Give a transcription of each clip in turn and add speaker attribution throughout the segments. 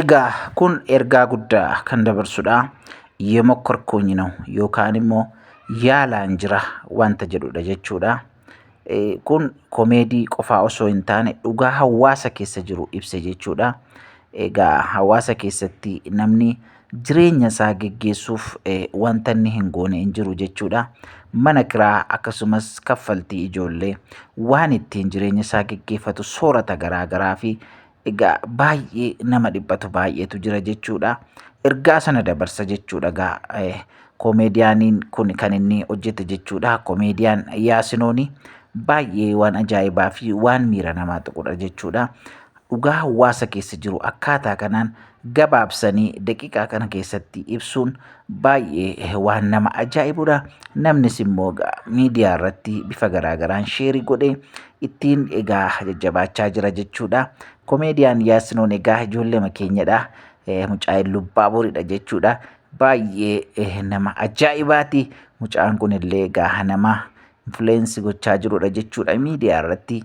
Speaker 1: Egaa
Speaker 2: kun ergaa guddaa kan dabarsudha. Yemokorkuunyi ነው yookaan immoo yaalaan jira wanta jedhudha jechuudha. Kun komeedii qofaa osoo hin taane dhugaa hawaasa keessa jiru ibsa jechuudha. Egaa hawaasa keessatti namni jireenya isaa geggeessuuf wanta inni hin goone hin jiru jechuudha. Mana kiraa akkasumas kaffaltii ijoollee waan ittiin jireenya isaa geggeeffatu soorata garaa garaa fi egaa baay'ee nama dhiphatu baay'eetu jira jechuudha. Ergaa sana dabarsa jechuudha egaa eh, koomeediyaaniin kun kan inni hojjete jechuudha. Koomeediyaan Yaasinooni baay'ee waan ajaa'ibaa fi waan miira namaa tuqudha jechuudha. Dhugaa hawaasa keessa jiru akkaataa kanaan gabaabsanii daqiiqaa kana keessatti ibsuun baay'ee waan nama ajaa'ibudha. Namnis immoo egaa miidiyaa irratti bifa garaagaraan sheerii godhee ittiin egaa jajjabaachaa jira jechuudha. Komeediyaan Yaasinoon egaa ijoolleema keenyadha. Eh, Mucaa Illubbaa Boriidha jechuudha. Baay'ee eh, nama ajaa'ibaati. Mucaan kun illee egaa nama influence gochaa jirudha jechuudha miidiyaa irratti.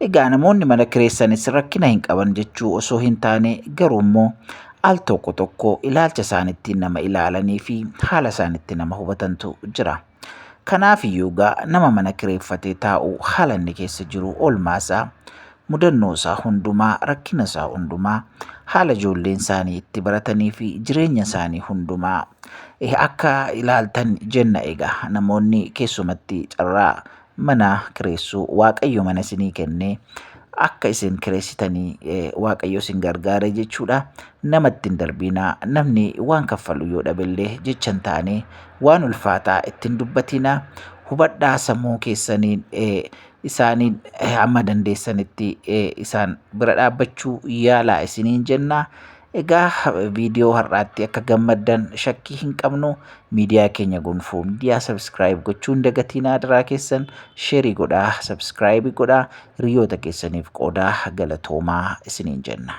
Speaker 2: Egaa namoonni mana kireessanis rakkina hin qaban jechuu osoo hin taane garuu immoo al tokko tokko ilaalcha isaanittiin nama ilaalanii fi haala isaanitti nama hubatantu jira. Kanaaf iyyuu egaa nama mana kireeffatee taa'u haala inni keessa jiru oolmaa isaa mudannoo isaa hundumaa rakkina isaa hundumaa haala ijoolleen isaanii itti baratanii fi jireenya isaanii hundumaa eh, akka ilaaltan jenna egaa namoonni keessumatti carraa mana kireessuu waaqayyo mana isinii kenne akka isin kireessitanii eh, waaqayyo isin gargaare jechuudha nama ittiin darbiinaa namni waan kaffalu yoo dhabellee jechan taane waan ulfaataa ittiin dubbatiinaa hubadhaa sammuu keessaniin eh, isaaniin eh, amma dandeessanitti eh, isaan bira dhaabbachuu yaalaa isiniin jennaa Egaa viidiyoo har'aatti akka gammaddan shakkii hin qabnu miidiyaa keenya gonfoo miidiyaa sabskiraayib gochuun dagatiin aadaraa keessan sheerii godhaa sabskiraayibii godhaa hiriyoota keessaniif qoodaa galatoomaa isiniin jenna.